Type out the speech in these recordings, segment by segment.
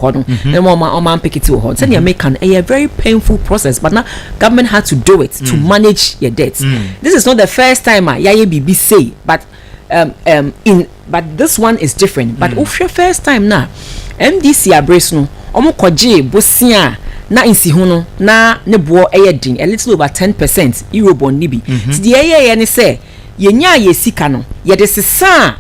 hɔ no na ma ɔma ɔma mpekete wɔ hɔ sɛdeɛ mm-hmm. meka no ɛyɛ very painful process but na government had to do it to mm. manage your debt mm. this is not the first time a yɛayɛ biribi sei but um, um, in but this one is different but mm. wohwɛ first time na mdc abere so no wɔn kɔgye bosia na nsiho no na ne boɔ yɛ den a little over ten percent eurobond ni bi mm-hmm. ti deɛ ɛyɛ yɛ ne sɛ. Yɛnyaa yɛn sika no, yɛde sesaa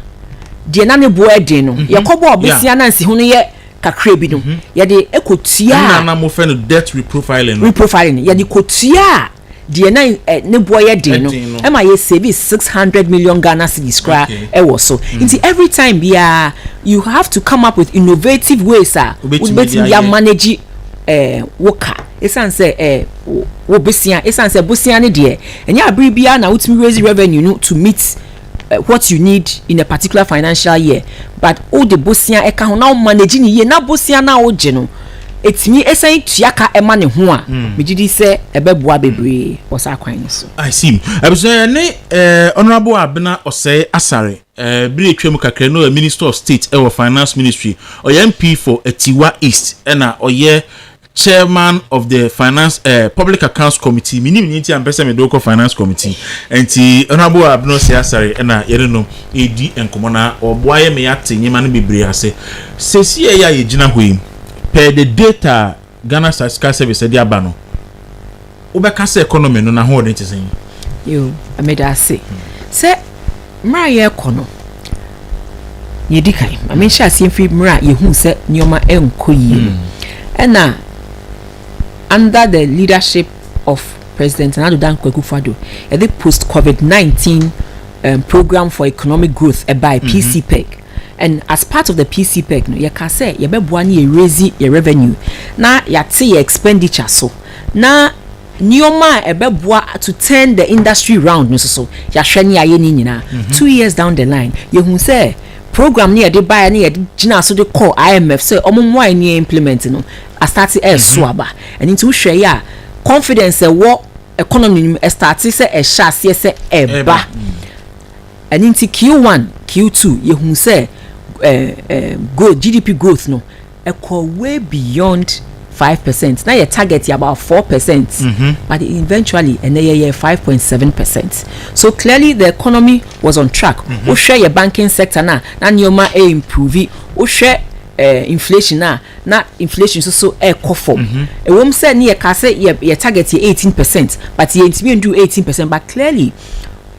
deɛ na ne boɔ yɛ den no. Mhm. Yɛkɔbɔɔ bosea na nsiho no yɛ kakra bi no, mhm. yɛde kɔtuaa. Ɛna na mofɛ no debt reprofiling no. Reprofiling no, yɛde mhm. kɔtuaa deɛ na eh, ne boɔ yɛ den no. Ɛma yɛ save six hundred million Ghana cedis koraa ɛwɔ so. Mm. Nti every time biara, you have to come up with innovative ways a wobɛtumi de amanage eh, wo ka. Ɛsiane sɛ eh, wo bosea, ɛsiane sɛ bosea no deɛ Ɛnyɛ abere biara na wotumi raise revenue no to meet what you need in a particular financial year but wode bosea ɛka ho na wo manage ne yie na bosea no a wogye no ɛtumi ɛsan tua ka ɛma ne ho a hmm. megye di sɛ ɛbɛboa bebree wɔ saa kwan no so. I see. Abusua yɛ ne eh, honourable Abena Ɔsɛe Asare eh, bere atwa mu kakra no yɛ minister of state ɛwɔ eh, finance ministry ɔyɛ MP for Atiwa East ɛna ɔyɛ Chairman of the finance eh, public accounts committee mi nim ni nti a mpɛ sɛ mede wokɔ finance committee nti honorable abeno se asare ɛna yɛne no ɛredi nkɔmmɔ na ɔboa yɛ me yɛate nneɛma no bebree ase sɛsi ɛyɛ a yɛgyina hɔ yi per the data a Ghana Statistical Service ɛde aba no wobɛka sɛ economy no n'ahoɔden te sɛn? Yo, meda ase. Sɛ mmerɛ a yɛrekɔ no, deɛ ɛdi kan, ma menhyɛ aseɛ mfiri mmerɛ a yɛhuu sɛ nneɛma ɛnkɔ yie no. Ɛna under the leadership of President Nana Addo Dankwa Akufo-Addo, yɛde post-COVID-19 um, program for economic growth ɛbae, PCPEG. And as part of the PCPEC no, yɛka sɛ yɛbɛboa na yɛ raise yɛ revenue na yɛate yɛ expenditure so na nneɛma a ɛbɛboa to turn the industry round no nso so yɛahwɛ ne yɛayɛ ne nyinaa. Two years down the line, yɛhu sɛ program no yɛde baeɛ ne yɛde gyinaa so de kɔɔ IMF sɛ wɔn mmoa yɛn ne yɛ implement no astate ɛreso aba. Ɛno nti wohwɛ yɛ a confidence a ɛwɔ economy no mu ɛstate sɛ ɛhyɛ aseɛ sɛ ɛreba. Ɛno nti Q1, Q2 yɛhuu sɛ growth, GDP growth no ɛkɔ way beyond five percent na yɛ target yɛ about four percent mm-hmm. but eventually ɛnɛ yɛ yɛ five point seven percent so clearly the economy was on track mm-hmm. wohwɛ yɛ banking sector na na nneɛma ɛ improve wohwɛ eh, inflation na na inflation nso so ɛkɔ fam mm-hmm. ɛwɔm sɛ ne yɛ kaa sɛ yɛ yɛ target yɛ eighteen percent but yɛ ntumi ndu eighteen percent but clearly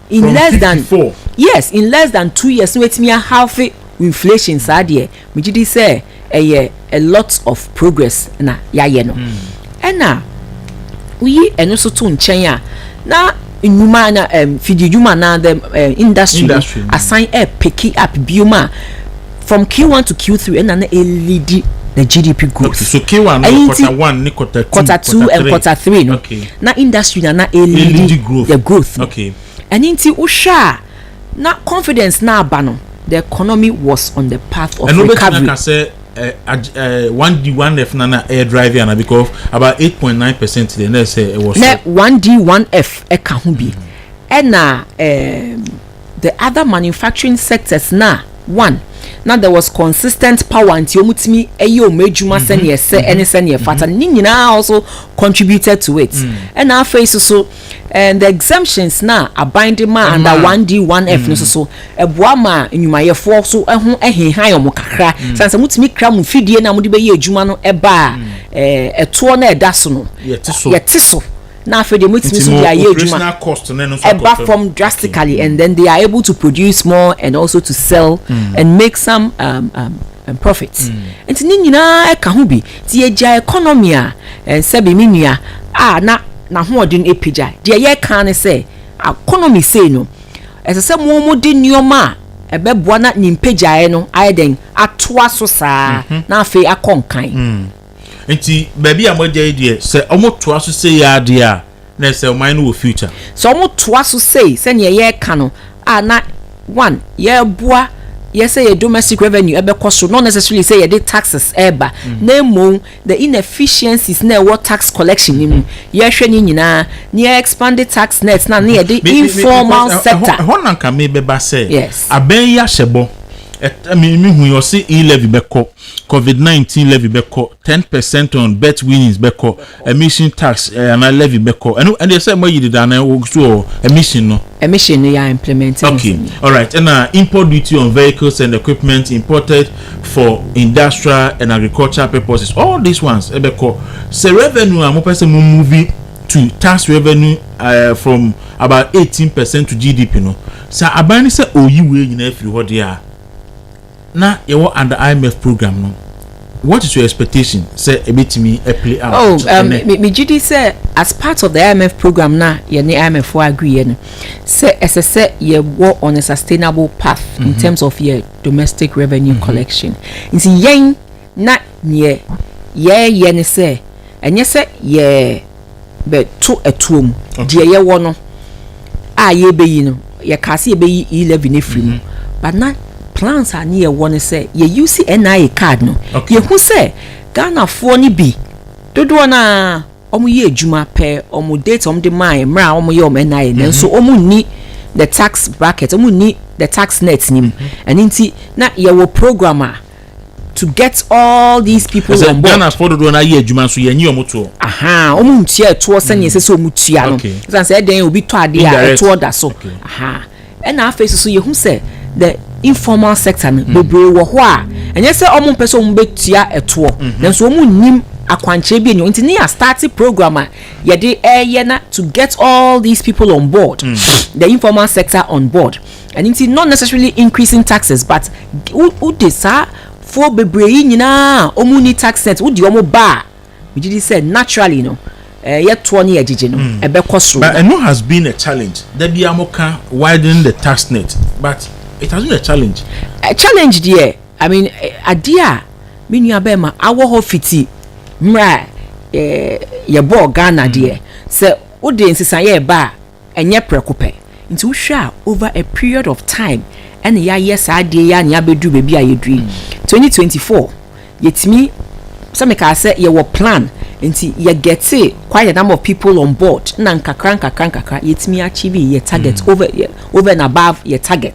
in from less than fifty four. yes in less than two years na watumi ahalfe inflation saa deɛ megye di sɛ ɛyɛ a lot of progress na yɛayɛ no ɛna woyi ɛno so to nkyɛn a na nnwuma na um, fididwuma na the um, industry, industry. asan ɛpeki up biom a From Q one to Q three ɛna na ɛleadi the GDP growth. Okay, so Q one no quarter one ne quarter two, quarter two and quarter three no. Okay. Na industry na na ɛleadi growth. the growth. Okay. Ɛno nti wohwɛ a na confidence na aba no the economy was on the path of recovery. Ɛno bɛtumi aka sɛ eh, eh, one D one F na na ɛyɛ drive ana because about eight point nine percent deɛ na ɛsɛ ɛwɔ so. Na one D one F ɛka ho bi ɛna ɛɛ. The other manufacturing sectors na, one, na there was consistent power nti wɔn tumi yɛ wɔn adwuma mm-hmm. sɛnea ɛsɛ mm-hmm. ɛne sɛnea ɛfata no mm-hmm. ne nyinaa also contributed to it mm. ɛna afei soso and eh, the exemptions na aban de ma under one d one f no soso mm. ɛboa ma nnwumayɛfoɔ so ɛho ɛhehan wɔn kakra mm. sanni sɛ motumi kra mo fidie na mode bɛyɛ adwuma no ɛbaa ɛtoɔ eh, na ɛda so no yɛte so. na afei deɛ motumi so de ayɛ adwuma ɛba fam drastically and then they are able to produce more and also to sell mm. and make some um, um, um, profit mm. nti ne nyinaa ɛka ho bi nti yɛgya economy a eh, sɛbi me nua a na n'ahoɔden apagya deɛ yɛka ne sɛ economy sei no ɛsɛ sɛ mo mo de nneɛma a ɛbɛboa na ne mpagyaeɛ no ayɛ dɛn atoa so saa mm-hmm. na afei akɔ nkan mm. Nti baabi a moagya yi deɛ sɛ ɔmo toa so sei aa deɛ a na ɛsɛ ɔman no wɔ future. Sɛ ɔmo toa so sei sɛdeɛ yɛɛka no a na one yɛɛboa yɛ sɛ yɛ domestic revenue ɛbɛkɔ soro not necessarily sɛ yɛde taxes ɛɛba na mmom the inefficiencies na ɛwɔ tax collection no mu yɛɛhwɛ ne nyinaa na yɛ expande tax net na na yɛde informal sector. Ɛhɔ na nka meebɛba sɛ abɛn yi ahyɛ bɔ, me hu yi ɔse e-levy bɛkɔ. covid nineteen levy bɛkɔ ten percent on bet winnings bɛkɔ emission tax eh, anaa levy bɛkɔ ɛno ɛdeɛ sɛ moayi deda anaa wɔ so wɔ emission no. Emission no yɛ implement no okay alright ɛna import duty on vehicles and equipment imported for industrial and agricultural purposes all these ones ɛbɛkɔ sɛ revenue a mopɛ sɛ mo move to tax revenue uh, from about eighteen percent to GDP no sɛ aban no sɛ ɔyi wei nyinaa firi hɔ deɛ a Na yɛwɔ under IMF program no, what is your expectation sɛ ɛbɛtumi play out oh, to um, ɛnɛ? Oh, megye di sɛ as part of the IMF program na yɛne IMF fo agreeɛ no sɛ ɛsɛ sɛ yɛwɔ on a sustainable path mm -hmm. in mhm. terms of yɛ domestic revenue mm -hmm. collection nti yɛn na neɛ yɛyɛ ne sɛ ɛnyɛ sɛ yɛ bɛ to ɛtoɔ mu, deɛ yɛ wɔ no a yɛ bɛ yi no, yɛ kaa sɛ yɛ bɛ yi E levy no afiri mu, but na plans a ne yɛ wɔ no sɛ yɛ use NIA card no, yɛ hu sɛ Ghana foɔ no bi dodoɔ no ara wɔn yɛ adwuma pɛ wɔn date wɔn de maa yɛ mmerɛ a wɔn yɛ wɔn NIA no nso wɔn nni the tax bracket wɔn nni the tax net no mu, ɛno nti na yɛ wɔ program a. to get all these people on board. Ghana sport dodoɔ no ayɛ adwuma nso yɛn nye wɔn toɔ. ahaa wɔn ntua ɛtoɔ sɛnea ɛsɛ sɛ wɔn tua no ɛsan sɛ ɛdɛn obi tɔ adeɛ a ɛtoɔ da so ahaa ɛna afei soso yɛhu sɛ the informal sector no mm. bebree wɔ hɔ a ɛnyɛ sɛ wɔn mpɛ sɛ wɔn bɛtua ɛtoɔ mhm. nanso wɔn nnim akwankyerɛ bi enyo nti ne yɛ start program a yɛde ɛyɛ na to get all these people on board mm. the informal sector on board. Ɛno nti not necessarily increasing taxes but wode saa foɔ bebree yi nyinaa a wɔn nni tax set wode wɔn ba a megye di sɛ naturally no yɛ toɔ ne yɛ gyegye no hmm. ɛbɛkɔ soro. But ɛno has been a challenge da bi a mo ka widening the tax net but it has been a challenge. A challenge deɛ I mean adeɛ a me nua bɛɛ ma awɔ hɔ fiti mmerɛ a yɛbɔɔ Ghana hmm. deɛ sɛ wode nsesaeɛ ɛba a. Ɛnyɛ prɛko pɛ. Nti wohwɛ a over a period of time ɛna yɛayɛ saa adeɛ yi ara na yɛabɛduru baabi a yɛduru yi. 2024 yɛtumi, sɛ mekaa sɛ yɛwɔ plan nti yɛ gɛtee quite a number of people on board na nkakra nkakra nkakra yɛtumi achieve yɛ target over yɛ over and above yɛ target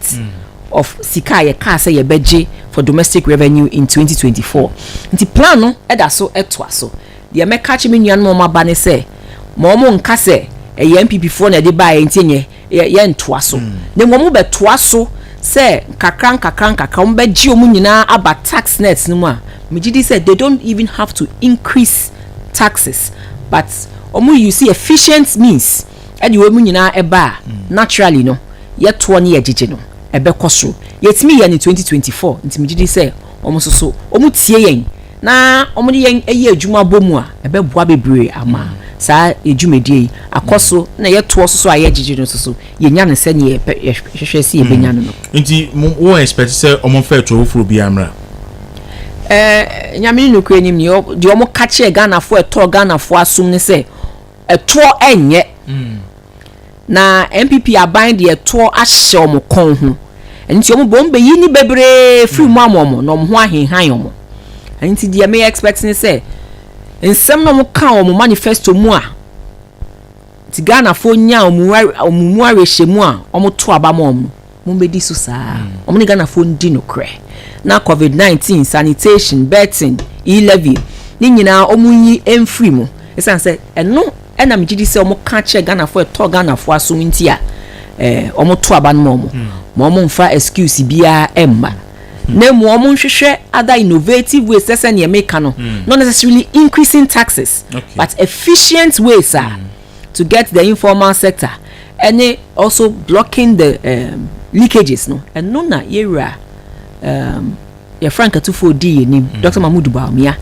of sika a yɛkaa sɛ yɛbɛgye for domestic revenue in 2024. Nti plan no da so toa so. Deɛ mɛka akyerɛ me nuanom a wɔaba ne sɛ, ma wɔnnka sɛ, 'Ɛyɛ NPPfoɔ na ɛde baeɛ, enti ɛnneɛ yɛ, yɛrentoa so. Na mmom wobɛtoa so sɛ nkakra nkakra nkakra wɔbɛgye wɔn nyinaa aba tax nets no mu a, megye di sɛ they don't even have to increase taxes, but wɔn use efficient means de wɔn nyinaa ba a, naturally no, yɛtoɔ ne yɛgyegye no, ɛbɛkɔ soro. Yɛtumi yɛɛ no twenty twenty four, nti megye di sɛ wɔn nso so wɔtie yɛn na wɔde yɛn yɛ adwuma bɔ mu a, ɛbɛboa bebree ama saa dwumadie yi akɔ so na yɛtoɔ so so a yɛgyegye no so so yɛnya no sɛdeɛ yɛhwehwɛ sɛ yɛbɛnya no no mm. nti wo expect sɛ ɔmomfa atuo foforɔ biara mmra eh, nyame ne nokorɛ nim deɛ ɔmo ka kyerɛ ghanafoɔ ɛtɔɔ ghanafoɔ asom ne sɛ ɛtoɔ ɛnyɛ mm. Na NPP aban deɛ toɔ ahyɛ wɔn kɔn ho, ɛno nti wɔn bom bɛyi nni bebree firi mu ama wɔn na wɔn ho ahenhan wɔn. Ɛno nti deɛ me expect ne sɛ nsɛm no a wɔn ka wɔ wɔn manifesto mu a nti Ghanafoɔ nya wɔn mu awerɛhyɛmu a wɔn to aba ma wɔn no, Mommɛdi so saa. Mm. Wɔn ne Ghanafoɔ ndi nokorɛ. Na COVID-19, sanitation, betting, e-levy, ne nyinaa wɔn yi mfiri mu. Ɛsan sɛ ɛno ɛna megye di sɛ wɔn ka kyerɛ Ghanafoɔ ɛtɔ Ghanafoɔ aso nti a ɛɛ wɔn to aba no ma wɔn. Mm. Ma wɔn nfa excuse biara ɛmma. Mm. Na mu wɔn nhwehwɛ other innovative ways sɛ sɛ nea meka no. Mm. Not necessarily increasing taxes. Okay. But efficient ways a. Mm. to get the informal sector ɛne also blocking the um, leakages no ɛno na yɛwura um, yɛfra nkatufoɔ di yɛnim mm. dr mahmood baumia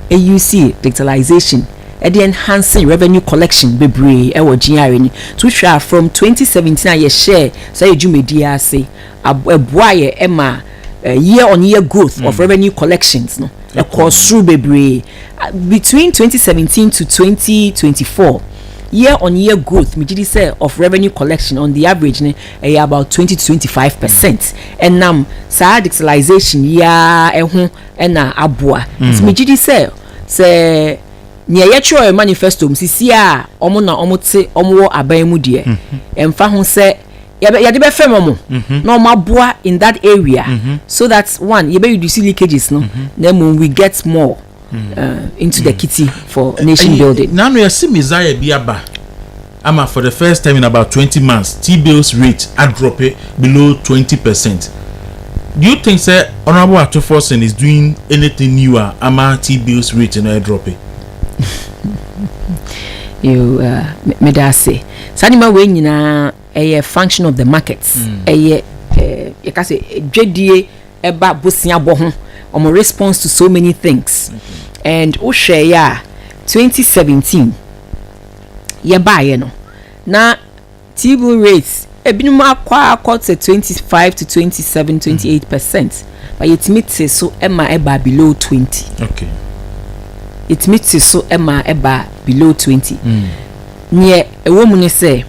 ɛusi digitalization ɛde enhancing revenue collection bebree ɛwɔ GRA ni to hwɛ from 2017 a yɛhyɛ saa yɛ dwumadie ase ɛboa yɛ ɛma eh, year on year growth mm. of revenue collections no ɛkɔ soro bebree Between twenty seventeen to twenty twenty four, year on year growth megye di sɛ of revenue collection on the average no ɛyɛ about twenty to twenty five percent ɛnam saa digitalization yi ara ɛho ɛna aboa nti mm. megye di sɛ sɛ nea yɛtwerɛ manifesto mu sisi a wɔn na wɔn te wɔn wɔ aban mu deɛ ɛmfa mm-hmm. ho sɛ. yɛbɛ yɛde bɛfrɛ mo mo na wɔn aboa in that area so that one yɛbɛ reduce leakages no na mmom we get more uh, into the kitty for nation building. nanu yɛsi mizaya bi aba ama for the first time in about twenty months t bills rate adrope below twenty percent do you think sɛ honourable atuforson is doing anything new a ama t bills rate no adrope. you uh, meda ase saa nneɛma wei nyinaa Ɛyɛ function of the market. Ɛyɛ eh, yɛka sɛ dwadie ɛba boseabɔ ho. Wɔn response to so many things. And wohwɛeɛ a 2017 yɛbaeɛ no na TB rate ebinom akɔ akɔ sɛ 25 to 27, 28 percent. But yɛtumi te so ɛma ɛbaa below 20. Okay. Yɛtumi te so ɛma ɛbaa below 20. Neɛ ɛwɔ mu ne sɛ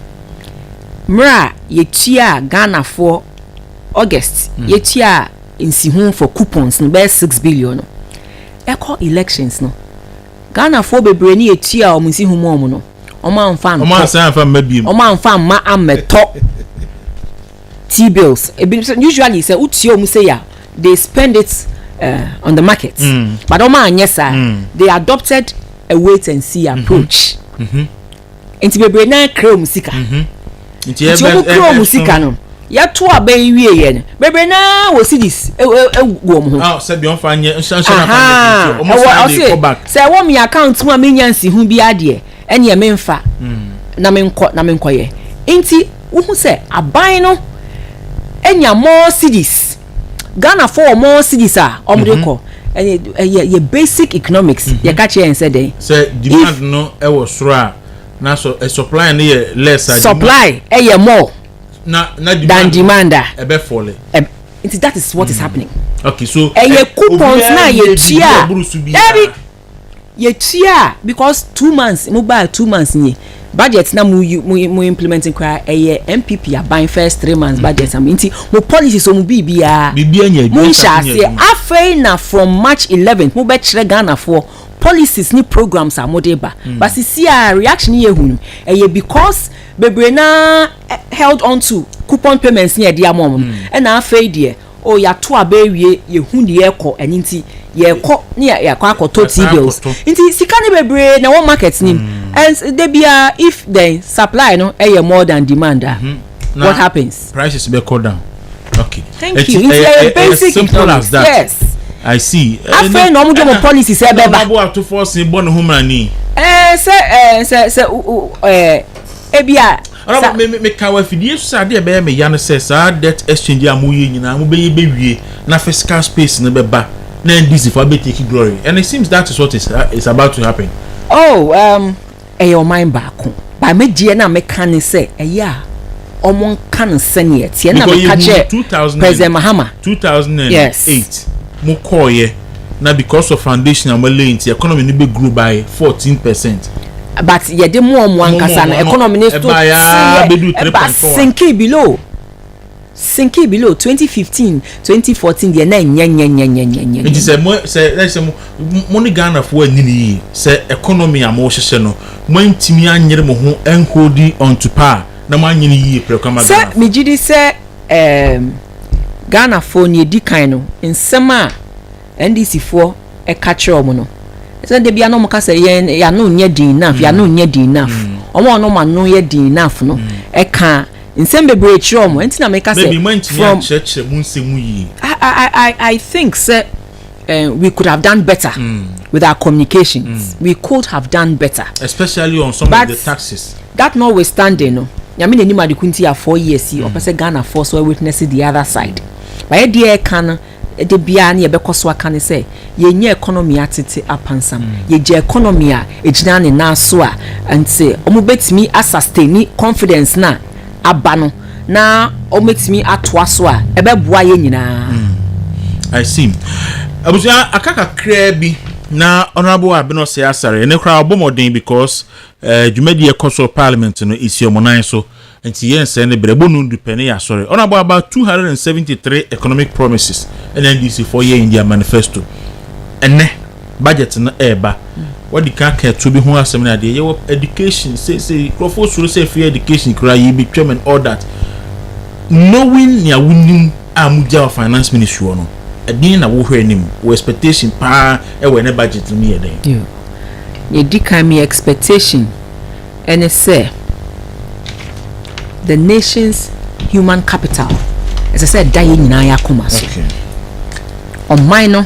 Mmerɛ a yɛtuaa Ghanafoɔ, August, yɛtuaa nsiho for coupons no bɛyɛ six billion no, ɛkɔ elections no, Ghanafoɔ bebree ne yɛtuaa wɔn nsiho mu wɔn no, wɔn amfa ntɔ. Wɔn ansan amfa mma biem. Wɔn amfa mma ammɛtɔ T-bills. Ebi nso, usually sɛ wotua wɔn sei a, they spend it uh, on the market. Mm. But wɔn anyɛ saa. Mm. They adopted a wait and see approach. Mm -hmm. Mm -hmm. nti bebree nan kra wɔn sika mhm. nti wɔn kra wɔn sika no yɛto aba yi wie yɛ no bebree naa wɔ cds e, e, e, gu wɔn ho. aw sɛbi ɔnfa nyɛ nsansan na fa nyɛ kò ɔmo san de kɔ back. sɛ ɛwɔ mi account mu a mi nya nsi ho bi adeɛ ɛnìyɛ mi nfa hmm. na mi nkɔ na mi nkɔ yɛ nti wohu sɛ aban no enya more cds. Ghana fo wɔn own cities a wɔn de kɔ ɛyɛ ɛyɛ yɛ basic economics yɛ ka kyerɛ yɛn sɛ dɛn. sɛ demand no ɛwɔ soro a na sɔ ɛ supply no yɛ less a. supply ɛyɛ more na na than demand demand a. ɛbɛ fɔle. Ɛb- nti that is what is happening. okay so ɛyɛ ɛ- coupons obiara na yɛ nni adwuma tua a ɛboro so biara. dabi yɛ tua a because two months mo baa two months nie budget na mo yi mo mo implement koraa ɛyɛ npp aban first three months budget na mo nti mo policies wɔn biribiara Biribiara nyɛ mo adwuma, nhyɛ asase nyɛ aseɛ adwuma. afei na from march eleven mo bɛ kyerɛ ghanafoɔ policies ne programs a mo de ba ba sisi a reaction yɛ hunu ɛyɛ because bebree naa eh, held on to coupon payments ne ɛde ama wɔn no ɛna afei deɛ Oh yɛato aba awie yɛhu deɛ ɛkɔ ɛno nti yɛkɔ ne yɛakɔ akɔtɔ tea bills nti sika no bebree na ɛwɔ market nim mm. and da biara if then supply no ɛyɛ more than demand a mm-hmm. what happens prices bɛkɔ down okay thank you nti ɛyɛ basic simple as that yes I see. afei na ɔmo de ɔmo policy sɛ ɛbɛba. ɛna ɔmo atofo ɔsìn bɔ ne ho mìíràn ni. ɛɛ sɛ ɛɛ sɛ sɛ ɛɛ ebi a. Sa. Me me meka wɔ afidie so sɛ adeɛ ɛbɛyɛ me ya ne sɛ saa debt exchange yi a mo yɛ nyinaa mo bɛyɛ bɛwie na fiscal space no bɛba na NDC foɔ abɛ take glory and it seems that is what is is about to happen. Oh um ɛyɛ ɔman baako but me deɛ na meka ne sɛ ɛyɛ a wɔn nka no sɛnea ɛteɛ na meka kyerɛ President Mahama. Because yɛ hu two thousand and eight mo kɔɔ yɛ. na because of foundation a wɔn lay nti economy no bɛ grow by fourteen percent. but yɛ de moa moa nkasa no economy no still seyɛ ɛba sinking below sinking below twenty fifteen twenty fourteen deɛ na nyɛ nyɛ nyɛ nyɛ nyɛ nyɛ. nti sɛ mo sɛ ɛsɛ mo mo ne ghana fo anyi ne yie sɛ economy a mo hyehyɛ no mo antumi anyere mo ho and holding on to power na mo anyi ne yie pɛrɛ kama ghana fo. sɛ megye di sɛ ɛɛm. Ghanafoɔ nea ɛdi kan no nsɛm a NDC foɔ ɛka kyerɛ wɔn no sɛ da bia na wɔn ka sɛ yɛn yano nyɛ den enough mm. yano nyɛ den enough mm. wɔn a wɔn ano yɛ den enough no mm. ɛka nsɛm bebree kyerɛ wɔn ɛnti na meka sɛ from I, I, I think sɛ uh, we could have done better mm. with our communications. Mm. We could have done better. Especially on some but of the taxes. That notwithstanding, no. nyame n'anim ade kunti a four years yi ɔpɛ sɛ ghana foɔ so witness the other side bayɛ deɛ ɛka no de biara ne yɛbɛkɔ so aka ne sɛ yɛnyɛ economy atete apansam mm. yɛgya economy a ɛgyina ne nan so a nti wɔn bɛtumi asasteni confidence na aba no na wɔatumi atoa so a ɛbɛboa yɛn nyinaa. Hmm. I see. Abusua aka kakraa bi na honorable Abino sɛ asare ɛne koraa ɔbɔ mmɔden because eh, dwumadi ɛkɔ so parliament no esi ɔmo nan so nti yɛn nsɛn ne brɛ bonu dupɛ ne yɛ asɔre honorable about two hundred and seventy three economic promises ɛna ndc fo yɛ in their manifesto ɛnɛ. budget no ɛreba wɔde ka ka ɛtuo bi ho asɛm no adeɛ yɛwɔ education seesei nkurɔfoɔ soro sɛ free education koraa yɛ bi twɛm and all that knowing nea wonim a mogya wɔ finance ministry hɔ no ɛdeɛn na wohwɛ anim wɔ expectation paa ɛwɔ ɛnɛ budget no mu yɛ dɛn yɛdi kan me expectation ɛne sɛ the nation's human capital ɛsɛ sɛ ɛda yɛ nyinaa yɛ akoma so ɔman no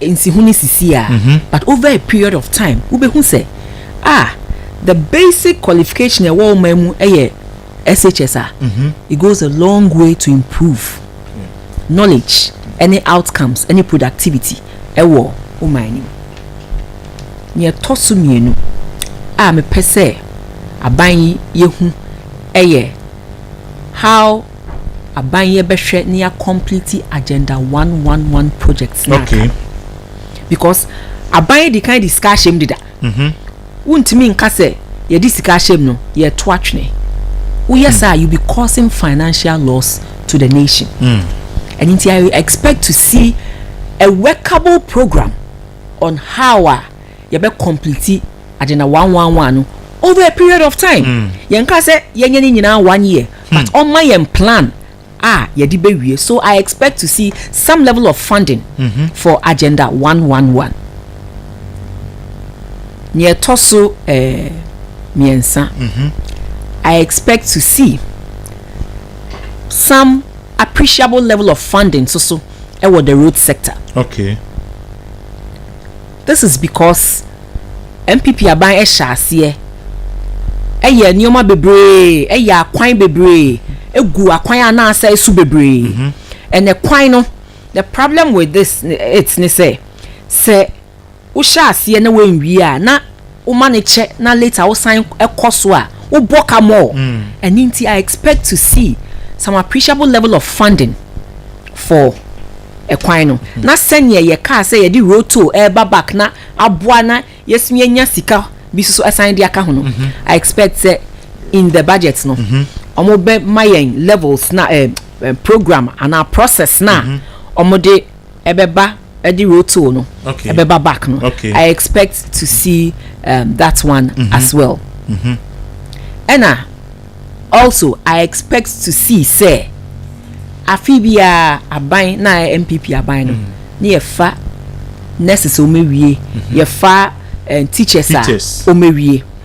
nsi ho ne sisi a but over a period of time wo bɛ hu sɛ ah the basic qualification ɛwɔ wo man mu ɛyɛ SHS a it goes a long way to improve knowledge ɛne outcomes ɛne productivity ɛwɔ wo man no mu nea ɛtɔ so mmienu a mepɛ sɛ aban yi yɛ hu ɛyɛ how. aban yɛ bɛ hwɛ ne ya complete agenda one one one project na okay. because aban yɛ di kan di sika ahyɛm deda mm -hmm. wontumi nka sɛ yɛde sika ahyɛm no yɛto atwene woyɛ mm. saa you be causing financial loss to the nation mm. and nti i expect to see a workable program on how a yɛbɛ complete agenda one one one no over a period of time mm. yɛn ka sɛ yɛnyɛ ne nyinaa one year but ɔma yɛn plan a yɛde bɛwie so I expect to see some level of funding for agenda one one one. Nea ɛtɔ so eh, mmiɛnsa, I expect to see some appreciable level of funding nso so wɔ the road sector. Okay. This is because NPP aban hyɛ aseɛ yɛ nnoɔma bebree, yɛ akwan bebree, gu akwan a na asɛe so bebree. And ɛkwan no, the problem with this it ne sɛ, sɛ wohyɛ aseɛ na woanwie a na. Woma no kyɛ na later wo san kɔ so a wo bɔ ka more. Ɛno nti I expect to see some appreciable level of funding for ɛkwan no. Na sɛdeɛ yɛ kaa sɛ yɛde road toll ɛreba back na aboa na yɛsumi anya sika bi nso asan de aka ho no, I expect sɛ in the budget no wɔbɛma yɛn levels no a ɛɛ program anaa process no a wɔde ɛbɛba ɛde rotow no Okay. ɛbɛba back no Okay. i expect to see um, that one as well ɛna also i expect to see sɛ afe biara aban na ayɛ npp aban no ne yɛfa nurses a wɔawie yɛfa eh, teachers a Teachers. wɔawie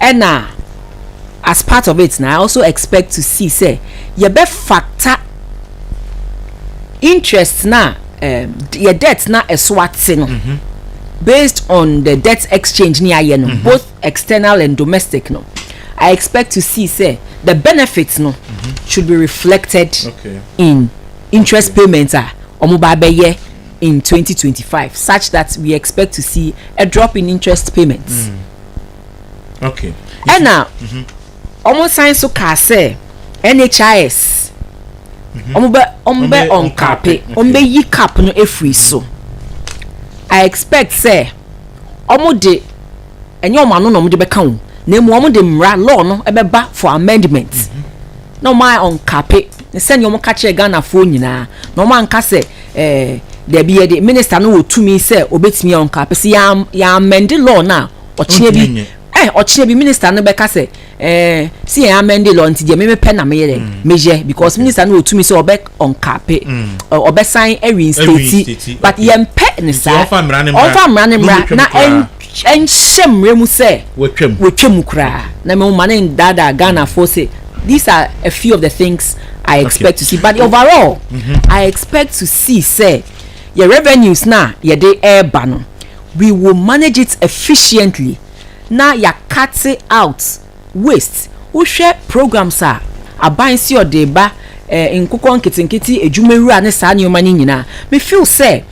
ɛna as part of it na I also expect to see sɛ yɛbɛfata interest na um, yɛ debt na ɛso ate no mm -hmm. based on the debt exchange ni ayɛ no mm -hmm. both external and domestic no I expect to see sɛ the benefits no mm -hmm. should be reflected okay. in interest okay. payments a wɔn ba bɛyɛ. in twenty twenty five such that we expect to see a drop in interest payments. Mm. Okay. ɛna wɔn san so kaa sɛ NHIS wɔn bɛ wɔn bɛ ɔnkape wɔn bɛ yi cap no efiri so I expect sɛ wɔn de ɛnyɛ wɔn ano na wɔn de bɛka wɔn na emu wɔn de mmara law no ɛbɛba for amendment na wɔn ayɛ ɔnkape ne sɛnea wɔn ka kyerɛ Ghanafoɔ nyinaa na wɔn anka sɛ. Ɛɛ, dabi yɛde minister no wɔ tumi sɛ obetumi a ɔnka pɛ sɛ yɛn yɛn amɛnde law no a ɔkyena bi ɛɛ ɔkyena bi minister no bɛka sɛ ɛɛ si yɛn amɛnde law nti deɛ mɛmɛ pɛ na meyɛ dɛ mm. meyɛ because minister no wɔ tumi sɛ ɔbɛ ɔnka pɛ mm. ɔbɛsan ɛwi nstate but yɛn pɛ ne saa ɔnfa mmara ne mmara na ɛn Ɛnhyɛ mmara mu sɛ wɔtwa mu koraa. Na me mma no nnaadaa Ghanafoɔ sɛ these are a few of the things I expect to see but overall mm-hmm. I expect to see sɛ yɛ revenues no a yɛde ɛreba no we will manage it efficiently na yɛakate out waste, wohwɛ programs a aban se ɔde reba, eh, nkokɔ nketenkete, adwumawura ne saa nneɛma no nyinaa. Me feel sɛ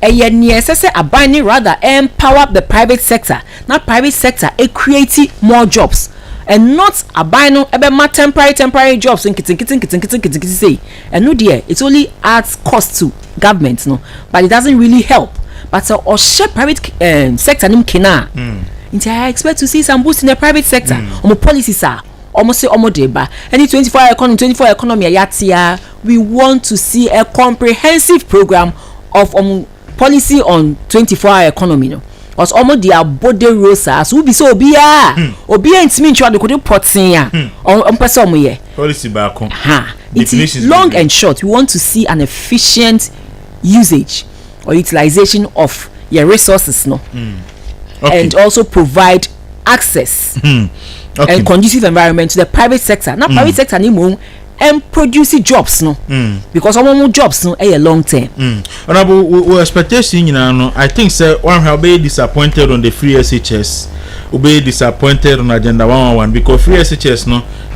ɛyɛ nea ɛsɛ sɛ aban ne rather empower the private sector na private sector e create more jobs and not aban no ɛbɛma temporary temporary jobs nketenkete nketenkete nketenkete sei. ɛno deɛ it only adds cost to government no but it doesn't really help but sɛ ɔhyɛ private um, sector no mu kena a mm. nti I expect to see some boost in the private sector mm. ɔmo policies a ɔmo se ɔmo de ba ɛne twenty four hour economy twenty four hour economy a yɛatea we want to see a comprehensive program of ɔmo. Policy on twenty four hour economy no ɔs ɔmo de abɔ dawuro saa so wobisa obiara a hmm. obiara ntumi ntwerɛ adekode pɔtee a hmm. ɔmo pɛ sɛ ɔmo yɛ policy baako ha nti long and short we want to see an efficient usage or utilization of your resources no hmm. okay. and also provide access okay. and conducive environment to the private sector na private sector ni mo ɛn produce jobs no mm. because ɔmo mo jobs no ɛyɛ long term. Mm. honourable wo wo expectation nyinaa no i think sɛ wahwɛ wobɛyɛ disappointed on the free shs wobɛyɛ disappointed on agenda one one one because free shs no.